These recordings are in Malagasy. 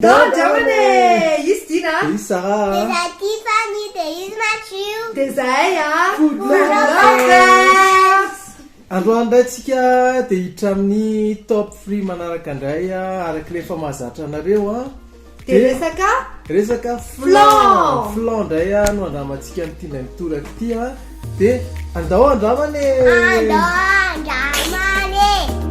Dao Jaona e! Izy Dina a! Izy Sarah a! Izahay Tiffany dia izy Matthew. Dia izahay a! Good Lovers! Androany indray tsika dia hiditra amin'ny top three manaraka indray araka ilay efa mahazatra anareo a! Dia resaka resaka flan flan ndray a no andramantsika amin'ity indray mitoraka ity a dia andao andramana e andao andramana e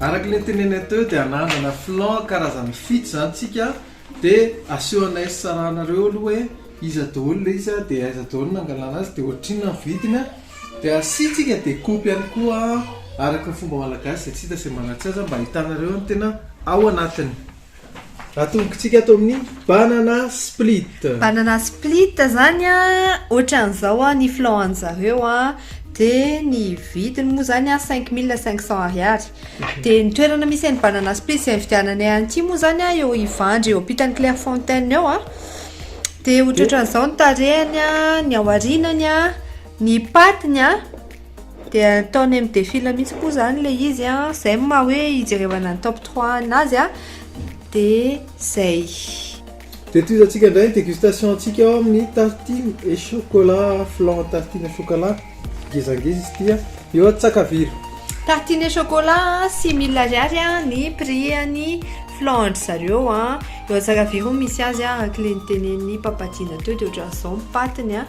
Araka ilay tenenay teo dia ananana flan karazany fito izany tsika dia asehonay sarahanareo aloha hoe iza daholo ilay izy dia aiza daholo no nangalana azy dia ohatrinona ny vidiny an, dia asiantsika découpe ihany koa araka ny fomba malagasy izay tsy hita izay manatsy azy mba ahitanareo ny tena ao anatiny. Atombokitsika ato amin'ny banana split. Banana split zany a, ohatran'izao a, ny flan an'zareo a, dia ny vidiny moa zany a cinq mille cinq cents ariary. Dia ny toerana misy an'i banana split izay nividiananay an'ity moa zany a, eo Ivandry eo ampitan'ny Clairefontaine eo a. Dia ohatrohatran'izao ny tarehiny a, ny aorianany a, ny patiny a. Dia ataon'ny MDFIL mihintsy moa izany ilay izy an, izay no maha hoe ijerevana ny top trois anazy an, dia izay. Dia tohizantsika indray ny dégustation-tsika ao amin'ny tartine et chocolat, flan tartine et chocolat, ngezangeza izy ity an, eo Antsakaviro. Tartine et chocolat six mille ariary ny prix-n'ny flan an-dry zareo an, eo Antsakaviro no misy azy an, araka ilay notenenin'i Papadina teo dia ohatran'izao ny paty-ny an.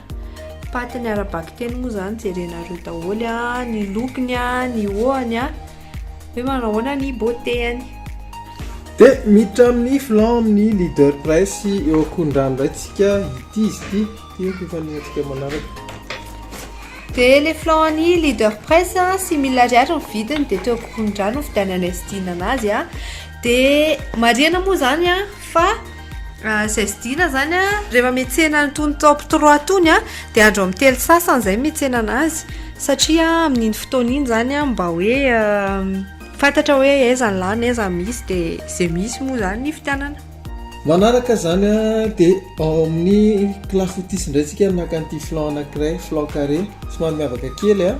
Paty ny ara-bakiteny moa zany jerenareo daholo a, ny lokony a, ny hohony a, hoe manao ahoana ny beauté-any. Dia miditra amin'ny flanc amin'ny leader presse eo Ankorondrano indray tsika, ity izy ity, ity ny fifaniantsika manaraka. Dia le flanc an'i leader presse a, six mille ariary ny vidiny dia teo Ankorondrano ny fividianana izay sidinana azy a, dia marihana moa zany a fa. Izay vidiana izany an, rehefa mihetsena an'itony top trois itony an, dia andro amin'ny telo sasany izay no mihetsena an'azy, satria amin'iny fotoana iny izany an, mba hoe fantatra hoe aiza no lany, aiza no misy, dia izay misy moa izany no hividianana. Manaraka izany an, dia ao amin'ny clafoutis indray isika no naka an'ity flan anankiray, flan carré, somary miavaka kely an,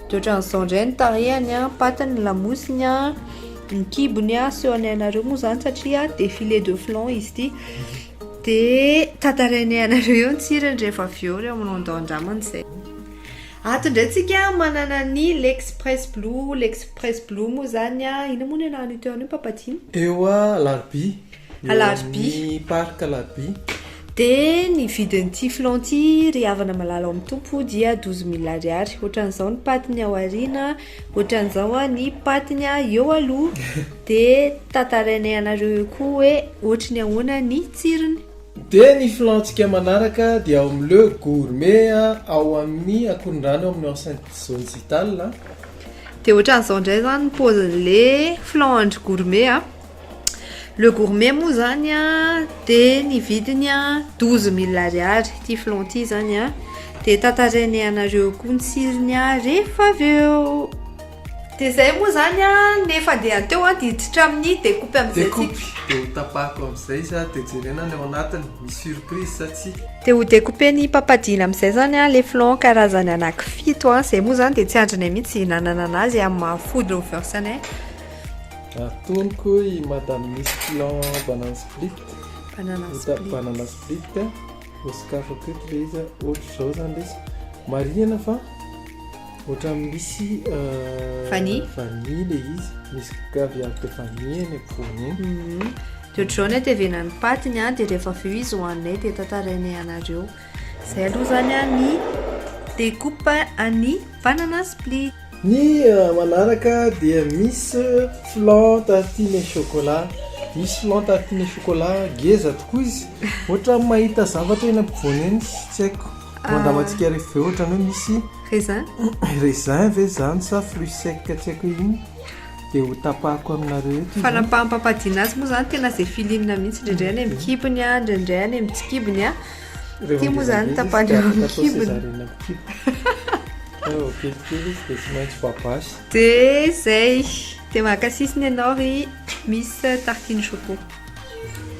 De ohatran'izao indray ny tarehany an, patte ny lamosiny an, ny kibony an, aseho anay anareo moa izany satria dia filet de flan izy ity. Dia tantarainay anareo eo ny tsirony rehefa avy eo ry Amandao andramana izay. Ato indray tsika manana ny l'express blue, l'express blue moa izany an, inona moa ny anaran'io teo anio Papa Tim? Teo alarobia. Eo amin'ny Parc Labie. Dia ny vidin'ity filon ity ry havana malala ao amin'ny Tompo dia douze mille ariary. Ohatran'izao ny patiny ao aoriana, ohatran'izao ny patiny eo aloha. Dia tantarainay anareo eo koa hoe ohatry ny ahoana ny tsirony. Dia ny filon-tsika manaraka dia ao amin'ny Le Gourmet ao amin'ny Ankorondrano eo amin'ny Enceinte Zone Zital. Dia ohatran'izao indray izany ny paozin'ilay filon an-dry Gourmet a. Le gourmet moa zany a dia ny vidiny a douze mille ariary ity flan ity zany a dia tantarainay anareo koa ny tsirony a rehefa avy eo dia zay moa zany a ny fandehan teo a diditra amin'ny decoupy amizay tsika decoupy dia ho tapahako amizay izy a dia jerena ny ao anatiny misy surprise sa tsia dia ho decouper ny papadina amizay zany a le flan karazany anaky fito a zay moa zany dia tsy andrinay mihintsy ihinanana anazy amin'ny maha food lovers anay Atonoko i madame misy plan banana split, Banana ota split. banana split a, ho sokafako eto ilay izy a, ohatr'izao izany ilay izy, marihina fa ohatran'ny misy euh, Vanille. vanille ilay izy, misy caviar de vanille eny ampovoany eny. Mhm. Dia ohatr'izao ny atevenan'ny paty ny ahy dia rehefa avy eo izy hohaninay dia tantarainay anareo. Izay aloha izany ny découpe an'ny banana split. Ny manaraka dia misy flan tartine chocolat. Misy flan tartine chocolat ngeza tokoa izy. Ohatran'ny mahita zavatra eny ampovoany eny, tsy haiko. Andramantsika rehefa avy eo ohatran'ny hoe misy Raisin. raisin ve izany sa fruit sec tsy haiko hoe inona. Dia ho tapahako aminareo eto izy. Fanapahampampadina azy moa izany tena izay feeling-na mihitsy. Indraindray any amin'ny kibony, indraindray any amin'ny tsy kibony. Ty moa zany tapany eo amin'ny kibony. De zay, de mankasisiny ianao ry Miss Tartine Choco.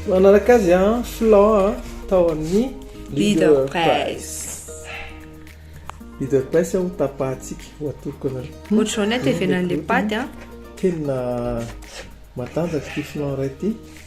Manaraka azy an, flan an, tao amin'ny Leader Press. Leader Press ho tapahantsika, ho atoroko anareo. Ohatr'izao ny hatevenan'ilay paty an. Kenina matanjaka ity flan iray ity.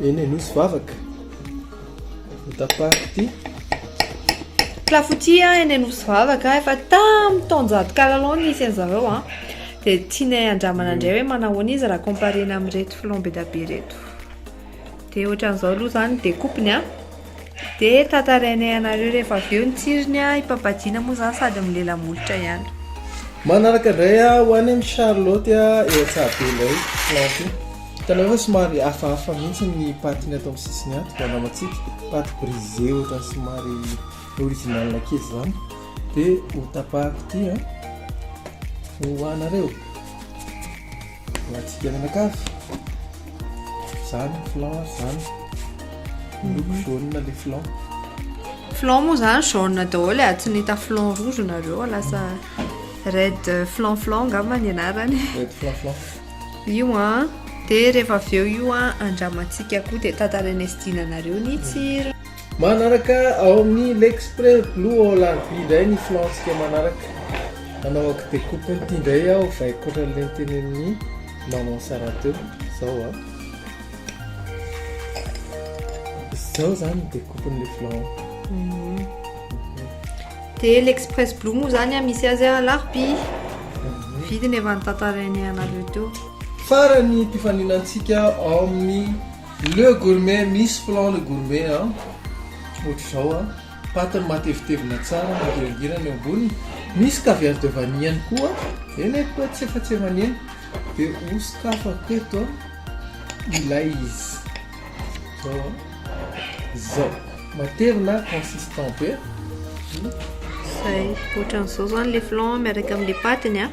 Eny Anosy vavaka Ny tapaky ity Clafoutis eny Anosy vavaka Efa tamin'ny taonjato kalalao nisy an'zareo an Dia tianay andramana indray hoe manahoana izy raha comparena amin'ireto flambeda be ireto Dia ohatran'izao aloha izany ny découpe-ny an dia tantarainay anareo rehefa avy eo ny tsirony an, i Papadiana moa izany sady milela-molotra ihany. Manaraka indray aho ho any amin'i Charlotte eo Antsahabe indray planty. Hitanao ve fa somary hafahafa mihitsy ny patiny ato amin'ny sisiny ato, mba namatsiko, paty brisé ohatran'ny somary original kely izany. Dia hotapahako ity an, ho anareo. Alantsika mianakavy. Izany ny flan ary izany. Miloko jaune ilay flan. Flan moa izany jaune daholo e, tsy nahita flan rouge nareo a, lasa red flan flan angamba ny anarany. Red flan flan. Io an, dia rehefa avy eo io an, andramantsika koa dia tantarainay sy dinanareo ny tsirony. Manaraka ao amin'ny L'Express Blue All RB indray ny filantsika manaraka. Manao ak de coupe an'ity indray aho fa ankoatran'ilay nitenenin'i Maman Sarah teo. Izao a. Izao izany ny découpe-n'ilay filan. Dia l'Express Blue moa izany a, misy azy alarobia. Vidiny efa notantarainay anareo teo. Farany fifaninantsika ao amin'ny Le gourmet misy plan le gourmet an! Ohatr'izao an! Patiny matevitevina tsara mangirangirana eo amboniny, misy caviar de vanille ihany koa, eny e koa tsy efa tsy aman'eny, dia ho sokafako eto ilay izy, izao an! Izao! Matevina, consistant be. Izay, ohatran'izao izany le flan miaraka amin'ny patiny an!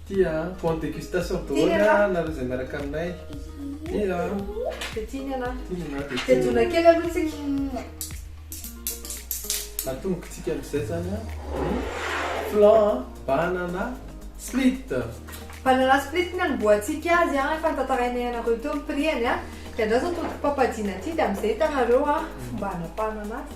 Tia a, font dégustation daholo a nareo zay miaraka aminay. Tia a. Dia tia ny anà. Tia ny anà dia tia. Dia dona kely aloha tsika. Atombokitsika amizay zany a. Flan a, banana split. Banana split ny anombohantsika azy a, efa notantarainay anareo teo ny prix-any a. Dia andraso atody papadina ity dia amizay hitanareo a fomba anapahana anazy.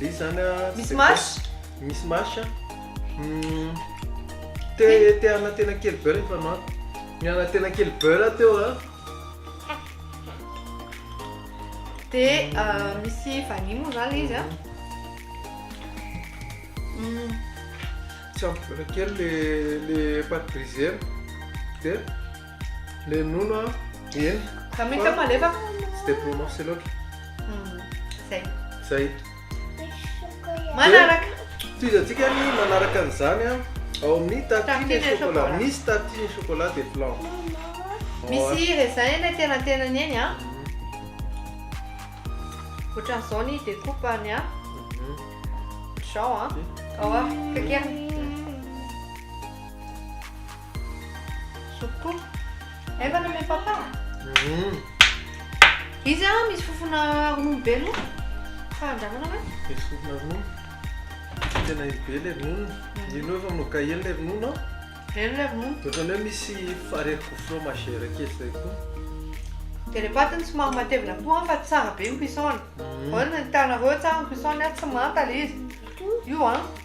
Misy zany a Misy mash? Misy mash a Hum, Te te hanana tena kely beurre ny fanaoko Nihanana tena kely beurre aho teo a Dia ah, misy vanille moa zany le izy an. Hum, Tsy ampy beurre kely le le pâte brisée-na Dia Le nono a, eny. Fa mety fa malefaka. Tsy dia prononcé loatra. Hmm, zay. Zay. Manaraka. Tohizantsika ny manaraka an'izany a. Ao amin'ny tartine et chocolat. Misy tartine et chocolat de blanc. Misy raisin eny an-tenantenany eny a. Hmm. Ohatran'izao ny découpe-ny a. Hmm. Zao a. Ao a, kakeriny. Soupy Efa nomen papa? Hum. Izy a misy fofona ronono be loatra fa andrahoina ve? Misy fofona ronono. Tena iny be le ronono. Iny hoe fa manao gaye le ronono a. Eny le ronono. Ohatran'ny hoe misy aretin-ko fromagère kely zay koa. Dia le paty no somary matevina koa an fa tsara be ny cuisson-ny. Ahoana ny hitanareo tsara ny cuisson-ny a? Tsy manta le izy. Io an.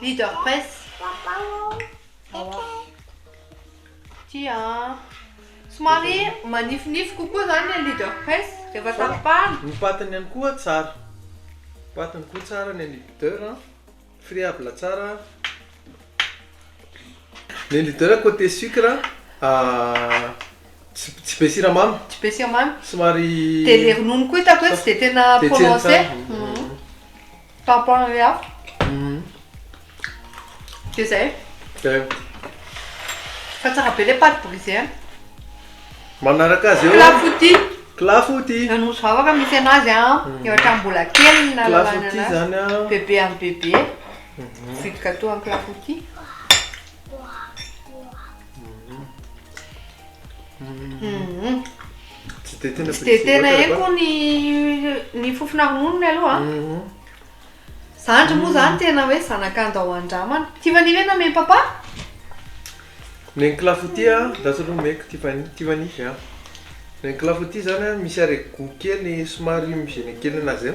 Leader Press. Ity an. Somary manifinify kokoa izany ny Leader Press rehefa tapahana. Ny patiny ihany koa tsara. Patiny koa tsara ny an'i Leader. Friable tsara. Le leader côté sucre tsy tsy be siramamy. Tsy be siramamy. Somary Dia le ronono koa hitako hoe tsy dia tena Dia tsy hena prononcé. tsara. Mhm. Par rapport an'ilay hafa. Mhm. Dia izay. Zay. Fa tsara be ilay pâte brisée an. Manaraka azy eo. Clafoutis. Clafoutis. Ny nosy vavaka misy anazy an. Ny ohatran'ny mbola kely ny nahalalana Clafoutis anazy. zany an. Bebe amin'ny bebe. Sweet gâteau en clafoutis. Tsy dia tena Tsy dia tena haiko ny ny fofona ronono ny aloha. Mhm. Zandry moa zany tena hoe zanak'anda ao andramana. Tiffany ve name papa? Ny clafoutis a, andraso aloha omeko Tiffany, Tiffany a. Ny clafoutis zany a misy arret-gout kely somary mizina kely anazy a.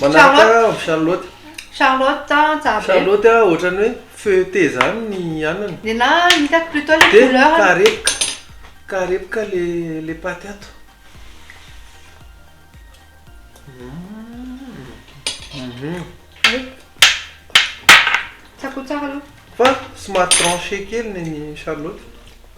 Manaraka avy Charlotte. Charlotte an tsara be. Charlotte an ohatrany hoe feuilleté zany ny anana. Nenaha hitako plutôt le couleur. De karepoka karepoka le le paty ato. Tsako tsara aloha. Fa somary tranché kely ny an'i Charlotte.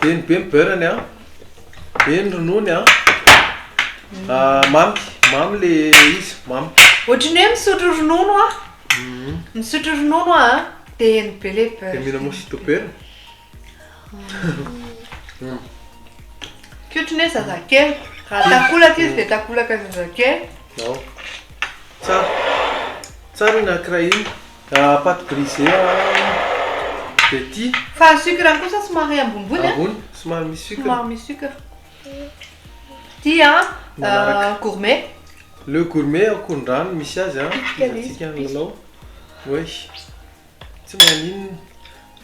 Be ny be ny beurre ny an. Be ny ronono an. Ah, mamy, mamy le izy, mamy. Ohatry ny hoe misotro ronono an. Misotro ronono an. Be ny be le beurre. Dia mila mosito be ny. Tsy ohatry ny hoe zazakely. Raha takolaka izy dia takolaka zazakely. Ao. Tsara. Tsara iny akra iny. Ka pâte brisée à petit. Fa ny sucre kosa somary ambonimbony a. Ambony, somary misy sucre. Somary misy sucre. Ity a gourmet. Le gourmet akorondrano misy azy a. Antsika ny lalao. Oay. Tsy maninona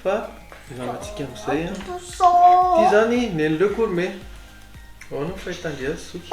fa ilalatsika amin'izay a. Ity zany nen'i le gourmet. Ahoana ny fahitandry azy zoky?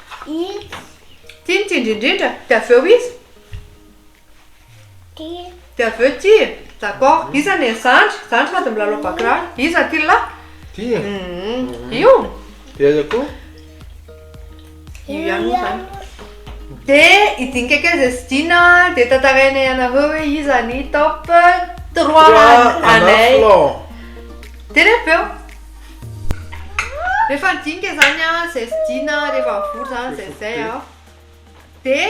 Itsy. Ity no tiany indrindra. Dia avy eo iza? Ty. Dia avy eo ty. D'accord. Iza anie ny zandry? Zandry sady milalao bakiraro. Iza ty lahy? Ty. Hum. Io. Dia iza koa? Io ihany moa izany. Dia hidinika kely izay tsy dina dia tantarainay anareo hoe iza ny top trois anay. Dia ny avy eo. Rehefa nidinika izany aho, izay fidina, rehefa nivory izany, izay izay aho. Dia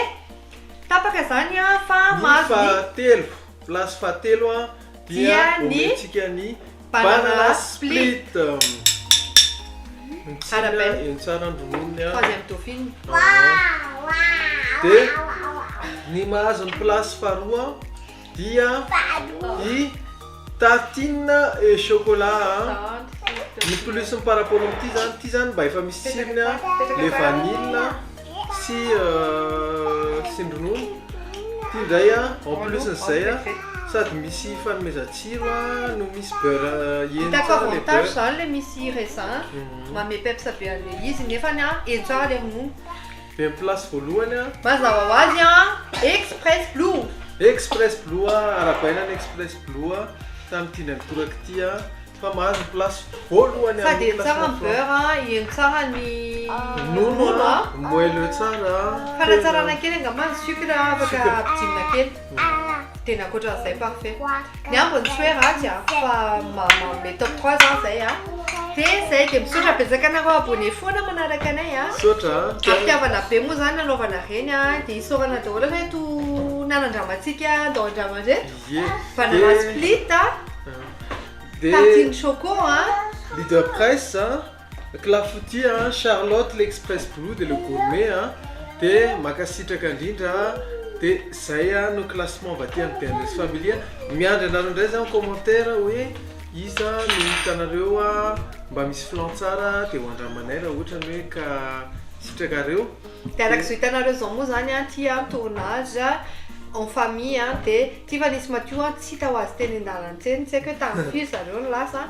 tapaka izany aho fa mahazo ny... Ny fahatelo, place fahatelo aho, dia omentsika ny banana split. Mitsina eny tsara ny rononony aho. Fady amin'ny dauphin. Dia ny mahazo ny place faharoa aho. dia i tartine et chocolat an ny plus-ny par rapport amin'ity zany, ity zany mba efa misy tsirony an le vanille sy tsindronono, ity ndray an en plus-n'izay an sady misy fanomezan-tsiro an no misy beurre heny tsara le beurre. Hitako avantage zany le misy raisin an, manome peps be an'le izy nefany an heny tsara le ronono. Very place voalohany an. Mazava ho azy an! Express Blue! Express Blue an! Arabaina ny Express Blue an! Tany tiany an toraka ity an! Fa mahazo ny place voalohany an! Sady eny tsara ny beurre an! Eny tsara ny ronono an! Moelleux tsara an! Fanatsarana kely angamba ny sucre an! Afaka ampidinina kely! Dia ny ankoatran'izay parfait. Ny ambiny tsy hoe ratsy an, fa manome top 3 za zay an. Dia zay, dia misaotra betsaka anareo abonné foana manaraka anay an. Misaotra an. Ary fitiavana be moa zany nanaovana ireny an, dia isaorana daholo ireto nanan-dramantsika ndao an-drano ireto. Ie. Banana split an, tartine choco an. Leader press an. Clafoutia an, Charlotte l'express blue de le gourmet an, de makasitraka indrindra an, de zay an no classement avy aty amin'ny bns family an, miandry anareo indray za mi-commentaire hoe iza no hitanareo mba misy flan tsara de ho andramanay raha ohatra ny hoe ka sitrakareo, de araka izao hitanareo izao moa zany an, ty an tournage en famille an, de ty efa nisy madio an, tsy hita ho azy teny an-dalantsena, tsy haiko hoe tamin'ny firy zareo no lasa an.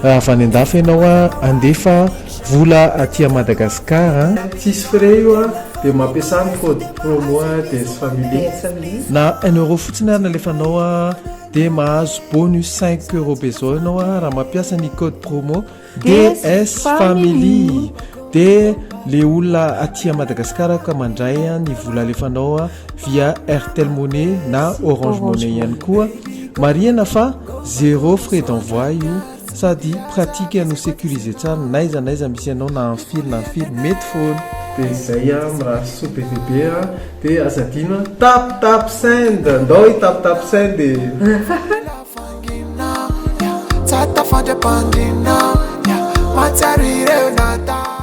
Raha avy any andafy ianao a, andefa vola aty à Madagascar a. Tsisy frais io a, de mampiasa ny code promo Dens Family. Na un euro fotsiny ary ny alefanao a, dia mahazo bonus cinq euro be zao ianao a, raha mampiasa ny code promo Dens Family. Dia le olona aty à Madagascar ka mandray ny vola alefanao a. via airtel money na orange money ihany koa marihana fa zéro frais d'envoi io sady pratique no sécurisé tsara naiza naiza misy ianao na en fil na en fil mety foana dia izay a mirary soa be dia be a dia aza adino a tap tap send ndao i tap tap send e tsara tafandry am-pandriana mahatsiaro ireo natao